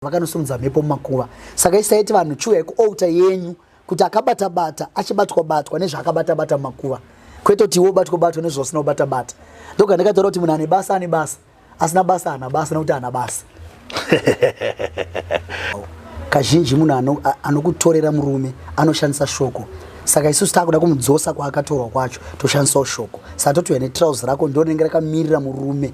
vakanosimudza mhepo mumakuva saka isaiti vanhu chiuyai kuouta yenyu kuti akabatabata achibatwabatwa nezvaakabatabata mumakuva kwete kuti iwe ubatwabatwa nezvausina kubatabata ndoga ndikataura kuti munhu ane basa ane basa asina basa ana basa nekuti ana basa kazhinji munhu anokutorera murume anoshandisa shoko saka isusu takuda kumudzosa kwaakatorwa kwacho toshandisawo shoko saka totiuya netrouse rako ndonenge rakamirira murume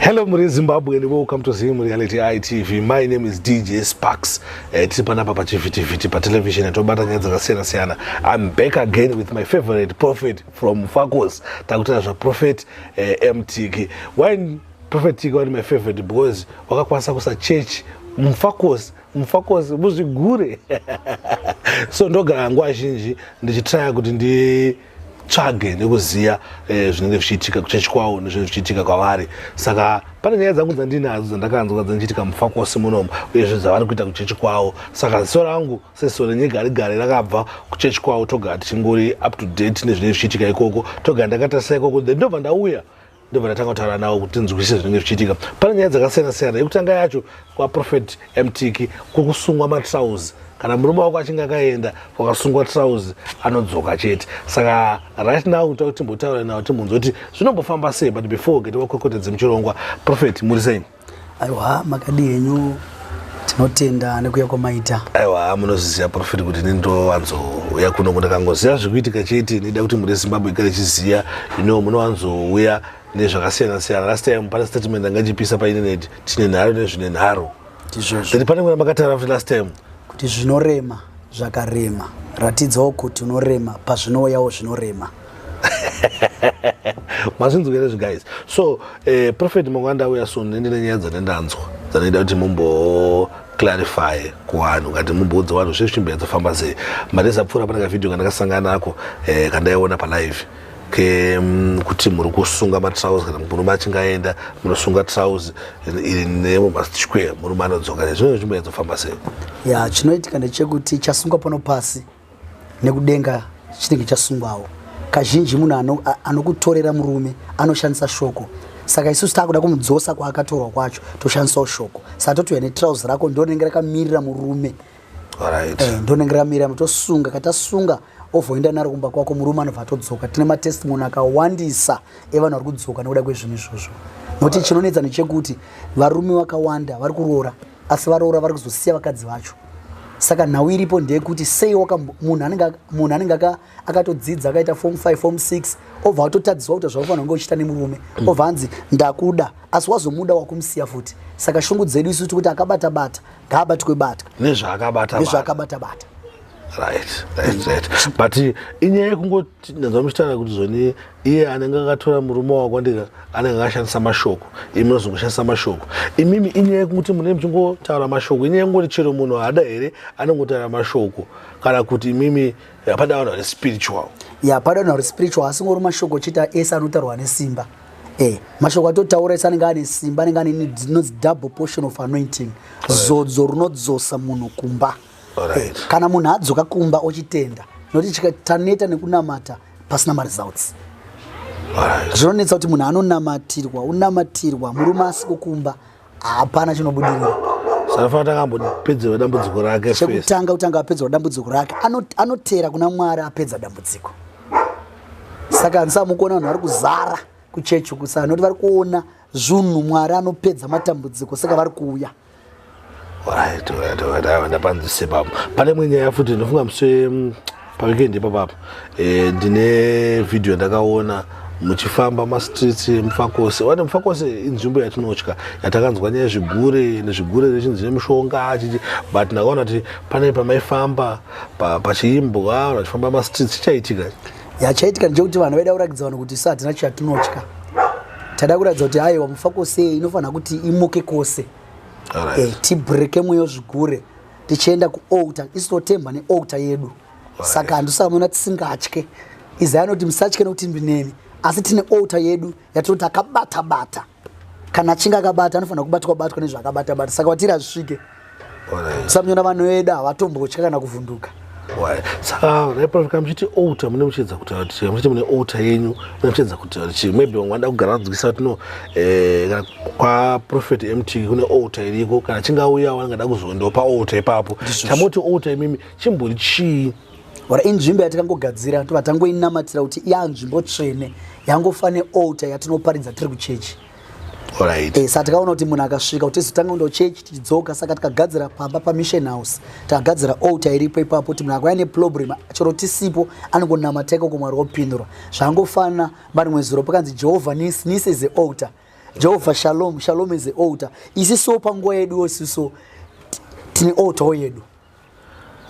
Hello muri Zimbabwe and welcome to Zim Reality ITV. My name is DJ Sparks. Eh, tiri panapa pachivhitivhiti patelevision yatobata nyaya dzakasiyana siyana. I'm back again with my favorite prophet from Fakos. Takutira zvaProphet eh, MTK. Why Prophet Tiki wari my favorite because wakakwanisa kusa church mufakos mufakos muzvigure so ndogara nguva zhinji ndichitraya kuti ndi tsvage nekuziva eh, zvinenge zvichiitika kuchechi kwavo nezvinenge zvichiitika kwavari saka pane nyaya dzangu dzandinadzo dzandakanzwa dzandichiitika mufakosi munomu uyezve dzavari kuita kuchechi kwavo saka ziso rangu sesiso renyegari gari rakabva kuchechi kwavo togara tichingori up to date nezvinenge zvichiitika ikoko togara ndakatarisa ikoko then ndobva ndauya ndobva ndatanga kutaura nawo kuti tinzwisise zvinenge zvichiitika pane nyaya dzakasiyana siyana yekutanga yacho kwaprofet mtiki kwekusungwa matrouse kana murume wako achinge akaenda kwakasungwa trouse anodzoka chete saka right now kuta kuti timbotaura nawo timbonzwa kuti zvinombofamba sei but before gete wakwekotedze muchirongwa profet muri sei aiwa makadii henyu tinotenda nekuya kwamaita aiwa munozviziva profit kuti ini ndovanzouya kuno kundakangoziva zvekuitika chete nida kuti muri zimbabwe kare chiziva ino munowanzouya nezvakasiyana siyana last time pane statement anga chipisa painternet tine nharo nezvine nharo ndizvozvo pane mwana makataura kuti last time kuti zvinorema zvakarema ratidzawo kuti unorema pazvinouyawo zvinorema mazvinzwa here zviguys so eh, prophet mangwanda auya soon nendine nyaya dzane ndanzwa dzanoita kuti mumbo clarify kuvanhu kati mumboudza vanhu zve zvichimbira dzofamba sei mari zapfuura pane kavhidhio kandakasangana ako eh, kandaiona palive ke mm, kuti muri kusunga matrouse kana murume achinge aenda munosunga trouse iri nemo masquare murume anodzoka nezvino zvichimbira dzofamba sei ya chinoitika ndechekuti chasungwa pano pasi nekudenga chinenge chasungwawo kazhinji munhu anokutorera ano murume anoshandisa shoko saka isusu takuda kumudzosa kwaakatorwa kwacho toshandisawo shoko saka totiuya netrouse rako ndonenge rakamirira murume right. eh, ndonenge rakamirira tosunga katasunga ovoenda naro kumba kwako murume anobva atodzoka tine matestimony akawandisa evanhu vari kudzoka nekuda kwezvinhu izvozvo nokuti chinonetsa nechekuti varume vakawanda vari kuroora asi varoora vari kuzosiya vakadzi vacho saka nhau iripo ndeyekuti sei munhu anenge akatodzidza akaita form 5 form 6 obva atotadziswa kuita zvaufanira kunge uchiita nemurume mm. obva anzi ndakuda asi wazomuda wakumusiya futi saka shungu dzedu isu tikuti akabatabata ngaabatwe batwa nezvaakabatabata right right right but eh, inyaya yekungoti ndanzwa muchitaura kuti zvoni iye anenge akatora murume wako ndika anenge akashandisa mashoko imi munozongoshandisa mashoko imimi inyaya yekungoti munee muchingotaura mashoko inyaya yekungoti chero munhu haada here anongotaura mashoko kana kuti imimi hapada vanhu vari spiritual ya pada vanhu vari spiritual asingori mashoko chita ese anotaurwa nesimba e mashoko atotaura ese anenge ane simba anenge ane inonzi double portion of anointing zodzo runodzosa munhu kumba right. right. kana munhu adzoka kumba ochitenda nokuti taneta nekunamata pasina maresults right. zvinonetsa kuti munhu anonamatirwa unamatirwa murume asiko kumba hapana chinobudirira sanafanira takambopedzerwa dambudziko rake chekutanga kutanga apedzerwa dambudziko rake anotera kuna mwari apedza dambudziko saka handisa mukuona vanhu vari kuzara kuchechi kusana noti vari kuona zvunhu mwari anopedza matambudziko saka vari kuuya Right, right, right. Awa ndapanzise baba. Pane imwe nyaya futi ndofunga muse mm, paweekend ipa baba. Eh ndine video yandakaona muchifamba mastreets emufakosi wati mufakosi inzvimbo yatinotya yatakanzwa nyaya zvigure nezvigure rechinzi nemushonga achichi but ndakaona kuti pane pamaifamba pa- pachiimbwa vachifamba mastreets chichaitika ya chaitika ndechekuti vanhu vaida kurakidza vanhu kuti so hatina chatinotya taida kuratidza kuti aiwa mufa kose inofanira kuti imuke kose right. e, tibreke mweyo zvigure tichienda kualta isu totemba nealta yedu right. saka handisamona tisingatye izai anoti musatye nekuti ndineni asi tine alta yedu yatinoti akabata bata, bata. kana achinge akabata anofanira kubatwa batwa nezvaakabata bata saka watiri azvisvike samunyona vanhu vedu havatombotya kana kuvhunduka reprofika muchiti outa mune muchiedza kutaura kuti chii muchiti mune outa yenyu mune muchiedza kutaura kuti chii maybe vamwe vanoda kugara vadzikisa kuti no eh, kana kwaprofet mt kune outa iriko kana chingauyawo angada kuzoendawo paouta ipapo chamoti outa imimi chimbori chii or inzvimbo yatakangogadzira tobva tangoinamatira kuti ya nzvimbo tsvene yangofa nealter yatinoparidza tiri kuchechi Right. Eh, saka takaona kuti munhu akasvika kuti tizotanga kuenda kuchechi tichidzoka saka tikagadzira pamba pamission house takagadzira alter iripo ipapo kuti munhu akauya neproblem chero tisipo anongonamata ikoko mwari wopindura zvangofanana marimwe zuro pakanzi jehovha nis nis is a alter jehovha shalom shalom is a alter isiso panguva yedu yosiso tine alter yedu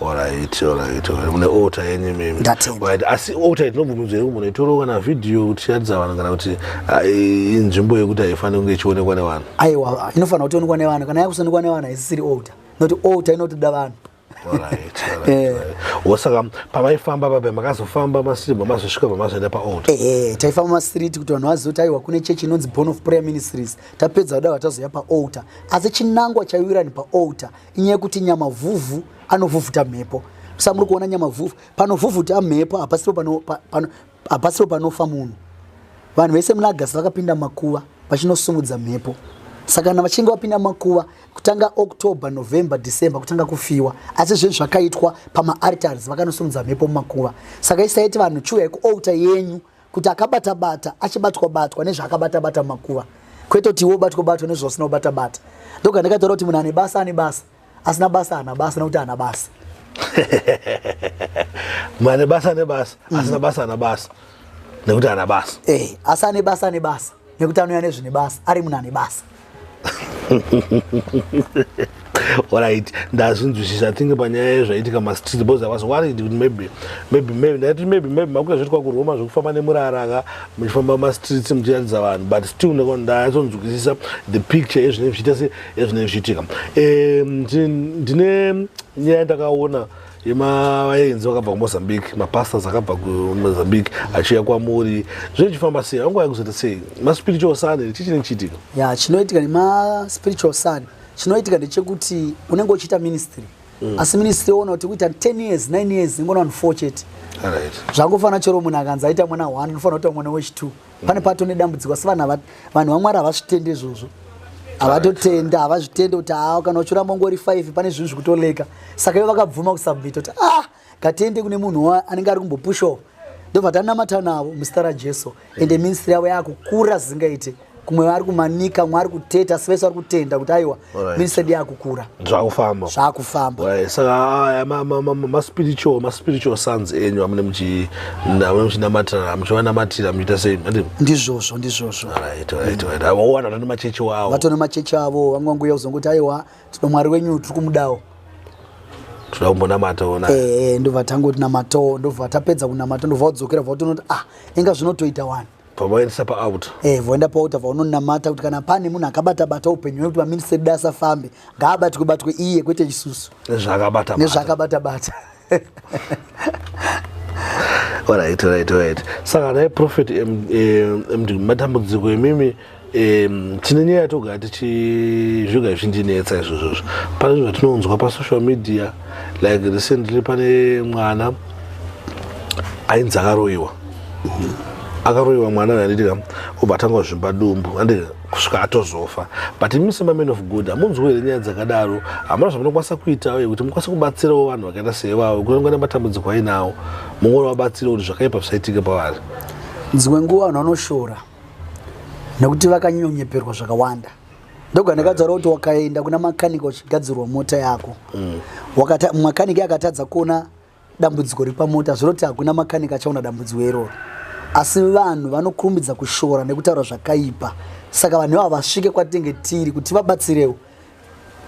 Alright, alright, alright. Mune altar yenyu mimi. Ndatenda. Right, asi altar itinobvumidzwa here kumbona itoroka na video kuti tiratidza vanhu kana kuti ah, i- inzvimbo yekuti haifaniri kunge ichionekwa nevanhu. aiwa inofanira kutionekwa nevanhu kana yakusonikwa nevanhu haisisiri older noti older inotoda vanhu Alright, alright, Eh. alright. Wosaka pamaifamba pape makazofamba masiribwa mazosvika pamazoenda paaltar. ehe taifamba masiriti kuti vanhu vazive kuti aiwa kune chechi inonzi born of prayer ministries tapedza kudava tazoya paaltar asi chinangwa chaiwira ni paaltar inyaya yekuti nyamavhuvhu anovhuvhuta mhepo sa muri kuona nyamavhuvhu panovhuvhuta mhepo hapasiro panofa munhu vanhu vese muna agasi vakapinda makuva vachinosumudza mhepo saka kana vachinge vapinda makuva kutanga october november december kutanga kufiwa asi zvinhu zvakaitwa pamaaritars vakanosumudza mhepo mumakuva saka isaiti vanhu chiuyai kualta yenyu kuti akabata bata achibatwa batwa nezvaakabata bata makuva kwete kuti iwe ubatwa batwa nezvausina kubata bata ndoga ndakataura kuti munhu ane basa ane basa asina basa ana basa nekuti ana basa mane basa nebasa asina mhm. basa ana basa nekuti ana basa eh, asi ane basa ane basa nekuti anouya nezvine basa ari munhu ane basa orit ndazvinzwisisa tinge panyaya yezvaitika mastreet bcause i was worried kuti maybe maybe maybe ndaiti maybe maybe makuita zvoitwa kuroma zvekufamba nemurara ka muchifamba mumastreets muchiratidza vanhu but still ndayatsonzwisisa the picture yezvinenge zvichiita se ezvinenge zvichiitika ndine nyaya ndakaona ima vaenzi vakabva kumozambique mapastors akabva kumozambique achiuya kwamuri zvinhu chifamba sei vangu vaikuzoita sei maspiritual sun here chichine chiitiko ya chinoitika nemaspiritual sun chinoitika ndechekuti unenge uchiita ministry mm. asi ministry oona kuti kuita 10 years 9 years ingona vanhu four chete zvangofanira chero munhu akanzi aita mwana one unofanira kuita mwana wechitwo pane pato nedambudziko asi vanhu vanhu vamwari havazvitende izvozvo havatotenda havazvitende kuti haa kana uchiramba ungori five pane zvinhu zvikutoleka saka ivo vakabvuma kusubmita kuti ah ngatiende kune munhu anenge ari kumbopushawo ndobva tanamata navo muzita rajesu ende ministry yavo yaakukura zvisingaite kumwe vari kumanika mwe ari kuteta asi vese vari kutenda kuti aiwa minisedi yakukura zvakufamba zvakufamba saka maspiritual maspiritual sons enyu amune muchinamatirana muchivanamatira muchiita sei ndizvozvo ndizvozvo owana vatone machechi wavo vatone machechi avo vamwe vanguya kuzongoti aiwa tino mwari wenyu tiri kumudawo toda kumbonamata ona eh, eh, ndobva tangotinamatawo ndobva tapedza kunamata ndobva wadzokera bva utonoti ah inga zvinotoita wani pavaendesa paouta eh, voenda paouta vaunonamata kuti kana pane munhu akabata bata upenyu wekuti vaminisita dai asafambe ngaabatwe batwe iye kwete isusu nezvaakabata nezvaakabata bata right right right saka dai profet md matambudziko imimi um, tine nyaya yatogara tichizvoga zvindinetsa izvozvozvo pane zvinhu zvatinonzwa pasocial media like recently pane mwana ainzi akaroyiwa akaroyiwa mwana uyo anditika obva atanga kuzvimba dumbu andi kusvika atozofa but imi semaman of good hamunzwi here nyaya dzakadaro hamuna zvamunokwanisa kuitawo yekuti mukwanise kubatsirawo vanhu vakaita seivavo kuti vangana matambudziko ainawo mungori vabatsire kuti zvakaipa zvisaitika pavari dzimwe nguva vanhu vanoshora nekuti vakanyonyeperwa zvakawanda ndoga ndakataura kuti wakaenda kuna makanika uchigadzirwa mota yako mm. makanika akatadza kuona dambudziko repamota zvinoti hakuna makanika achaona dambudziko iroro asi vanhu vanokurumbidza kushora nekutaura zvakaipa saka vanhu ivavo vasvike kwatinge tiri kuti vabatsirewo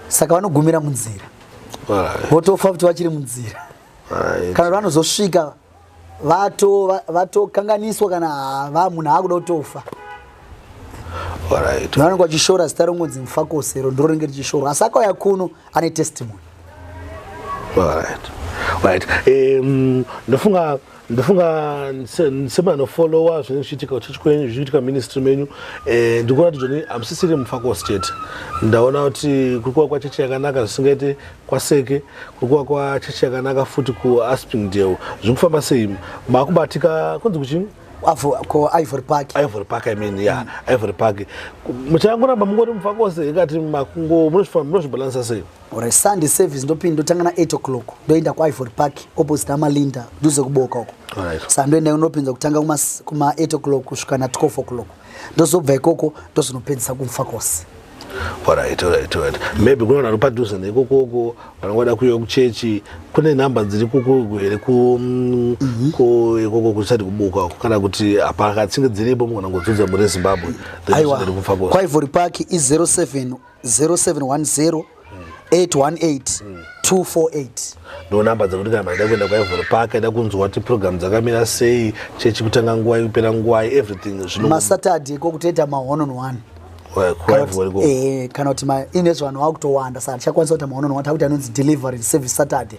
saka vanogumira munzira votofa kuti vachiri munzira kana vanozosvika vatokanganiswa kana hava munhu aakuda kutofa vanenge vachishora zita rongonzi mufakosero ndiro rinenge richishorwa asi akauya kuno ane testimony ndofunga ndofunga semanofollowa zvinenge zvichiitika kuchechi kwenyu zvichiitika ministry menyu eh, ndikuratidza kuti hamusisiri mufakostate ndaona kuti kuri kuva kwachechi yakanaka zvisingaite kwaseke kurikuva kwachechi yakanaka futi kuaspringdale zviri kufamba sei makubatika kunzi kuchini kuivory park ivory park i mean ya mm. ivory park muchangoramba mungori mufakose ikati makungo munozvifamba munozvibalansa sei ore sunday service ndopindi ndotanga na 8 o'clock ndoenda kuivory park opposite amalinda nduze kuboka uko sa ndoenda unopinza kutanga kuma 8 o'clock kusvika na 12 o'clock ndozobva ikoko ndozvinopedzisa kumufakose Alright, alright, alright. Maybe kuna vanhu padhuze nekokoko vanongoda kuuya kuchechi kune nhamba dziri kukuku here ku mm, mhm. ku ikoko kusati kubuka uko kana kuti hapana kana tsinge dziripo mukona ngodzudza muri Zimbabwe aiwa kwaivori park i 07 0710 818 mm. 248 ndo namba dzekuti kana maida kuenda kwaivhoro park aida kunzwa kuti program dzakamira sei chechi kutanga nguva ikupera nguva everything zvino masatadi ko kutoita ma one on one eh, kana kuti inezvanhu akutowanda saka tichakwanisa kuita maonono watakuti anonzi delivery service saturday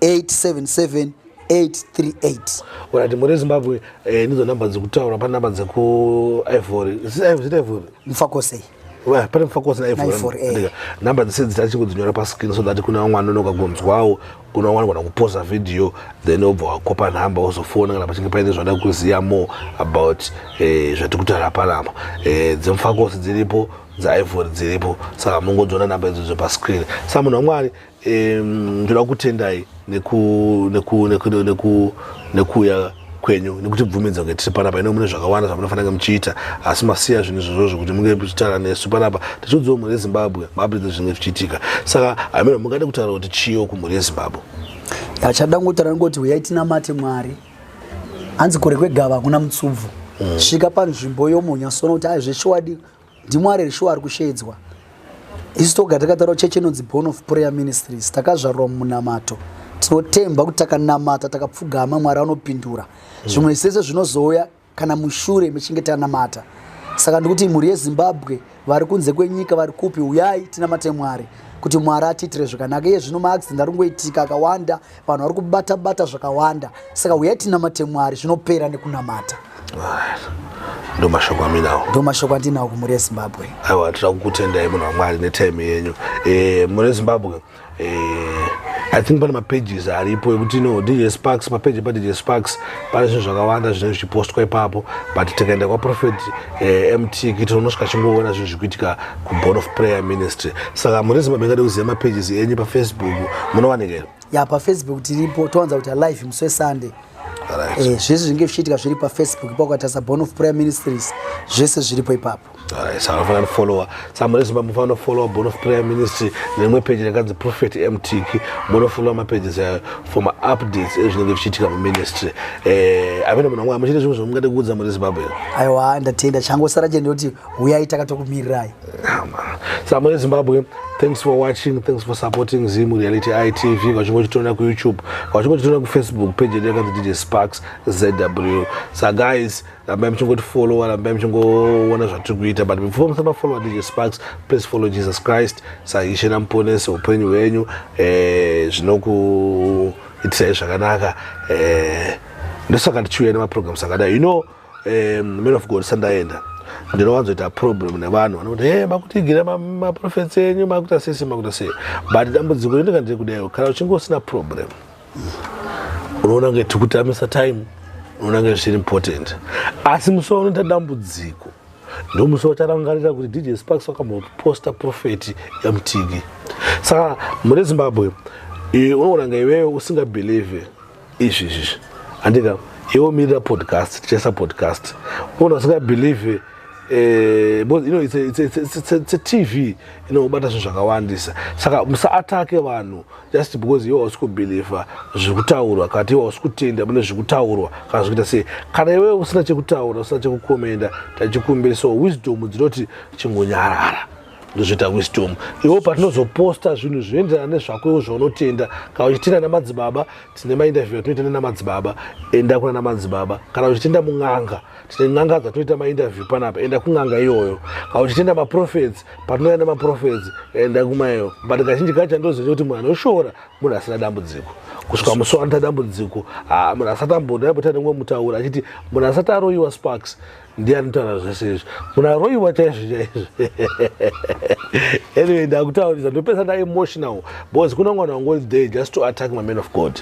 877 urati muri zimbabwe eh, ndidzo namba dzekutaura pane namba dzekuivory zitaivory mufakosei pane mufakose naivory eh. namba dzese dzita chingodzinyora pascreen so that kuna vamwe anonoka kunzwawo unowana kana kupoza video then obva wakopa nhamba wozofona kana pachinge paine zvada kuziva more about eh, zvatiri kutaura panapa eh, dzemufakose dziripo dzaivory dziripo saka mungodziona namba idzodzo pascreen sa munhu wamwari ndoda kutendai nekuuya kwenyu nekutibvumidza kuti tiri panapa ino mune zvakawanda zvamunofanira muchiita asi masiya zvinhu izvozvo zvokuti munge muchitaura nesu panapa tichiudziwo mhuri yezimbabwe mabridzi zvinenge zvichiitika saka hameno mungade kutaura kuti chiyo kumhuri yezimbabwe achada ngotaura ngoti huyai tinamate mwari hanzi kure kwegava hakuna mutsubvu mm. svika panzvimbo yomunyasona kuti aizveshuwadi ndimwari here shuwa ari kusheedzwa isu toga takataura chechi inonzi born of prayer ministries takazvarwa mumunamato tinotemba kuti takanamata takapfugama mwari anopindura mm. zvimwe sese zvinozouya kana mushure mechinge tanamata saka ndikuti mhuri yezimbabwe vari kunze kwenyika vari kupi uyai tinamate mwari kuti mwari atiitire zvakanaka iye zvino maaccident ari kungoitika akawanda vanhu vari kubata bata zvakawanda saka huyai tinamate mwari zvinopera nekunamata ndo mashoko aminawo ndo mashoko andinawo kumhuri yezimbabwe aiwa tira kukutendai munhu wamwari netime yenyu e, mhuri yezimbabwe e, i think pane mapages aripo ekuti no dj sparks papeji padj sparks pane zvinhu zvakawanda zvinenge zvichipostwa ipapo but tikaenda kwaprophet e, eh, mtk tinosvika chingoona zvinhu zvikuitika kuboard of prayer ministry saka muri zimba mingade kuziva mapages enyu pafacebook munowanikera ya pafacebook tiripo towanza kuti alive musi wesunday right. eh, zvese zvinge zvichiitika zviri pafacebook ipa ukatarisa born of prayer ministries zvese zviripo ipapo right. saka unofanira kufollowa saka muri zimba munofanira kufollowa born of prayer ministry nerimwe peji rakanzi prophet mtiki munofollowa mapages ayo for maupdates ezvinenge zvichiitika muministry eh, amene munhu wamwe amuchite zvimwe zvamungade kuudza muri zimbabwe aiwa ndatenda changosara chende kuti huyai takatokumirirai samo yezimbabwe thanks for watching thanks for supporting zim reality itv vachingotitonera kuyoutube vachingotitonera kufacebook page yedu yakanzi dj sparks zw sa guys rambai muchingotifollowa rambai muchingoona zvatiri kuita but before musamafollowa dj sparks please follow jesus christ saishe namuponesi upenyu hwenyu eh, zvinokuitirai zvakanaka eh, ndosaka ndichiuya nemaprograms akadai you know um, man of god sandaenda ndinowanzoita problem nevanhu vanokuti he makutigira maprofets enyu makuita sese makuita sei but dambudziko rindinga ndiri kudaiwo kana uchinge usina problem unoona kunge tikutamisa time unoona kunge zviri important asi musi waunoita dambudziko ndomusi wacharangarira kuti dj sparks wakamboposta profeti yamutigi saka mune zimbabwe unoona nga iweyo usingabhelieve izvi izvi handika iwo mirira podcast tichaisa podcast munhu asingabelieve Eh, because you know it's a, it's a, it's a, it's a, it's a tv inobata zvinhu zvakawandisa saka musaatake vanhu just because iwe hausi kubhilivha zviri kutaurwa kana ti iwe hausi kutenda mune zviri kutaurwa kana zvikuita sei kana iwe usina chekutaura usina chekukomenda tachikumbira so wisdom dzinoti chingonyarara ndozviita wisdom iwo patinozoposta zvinhu zvinoenderana nezvako iwo zvaunotenda kana uchitenda namadzibaba tine mainterview atinoita nenamadzibaba enda kuna namadzibaba kana uchitenda mun'anga tine n'anga dzatinoita mainterview panapa enda kun'anga iyoyo kana uchitenda maprofets patinouya nemaprofets enda kumayo but kazhinji kacho andoziva kuti munhu anoshora munhu asina dambudziko kusvika musi wanoita dambudziko ah, munhu asati amboda aita nemumwe mutaura achiti munhu asati aroyiwa sparks ndiye anotaura zvese izvi munaroiwa chaizvo chaizvo anyway ndakutaurisa ndopesa nda emotional because kuna mwana wangori there just to attack maman of god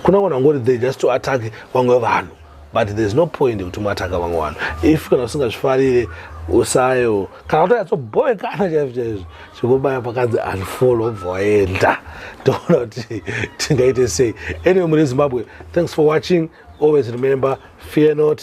kuna mwana wangori there just to attack vamwe vanhu but thereis no point yekuti muataka vamwe vanhu if kana usingazvifarire usayo kana kutonyatsobhoekana chaizvo chaizvo chekubaya pakanzi unfollow obva waenda ndoona kuti tingaite sei anyway muri zimbabwe thanks for watching always remember fear not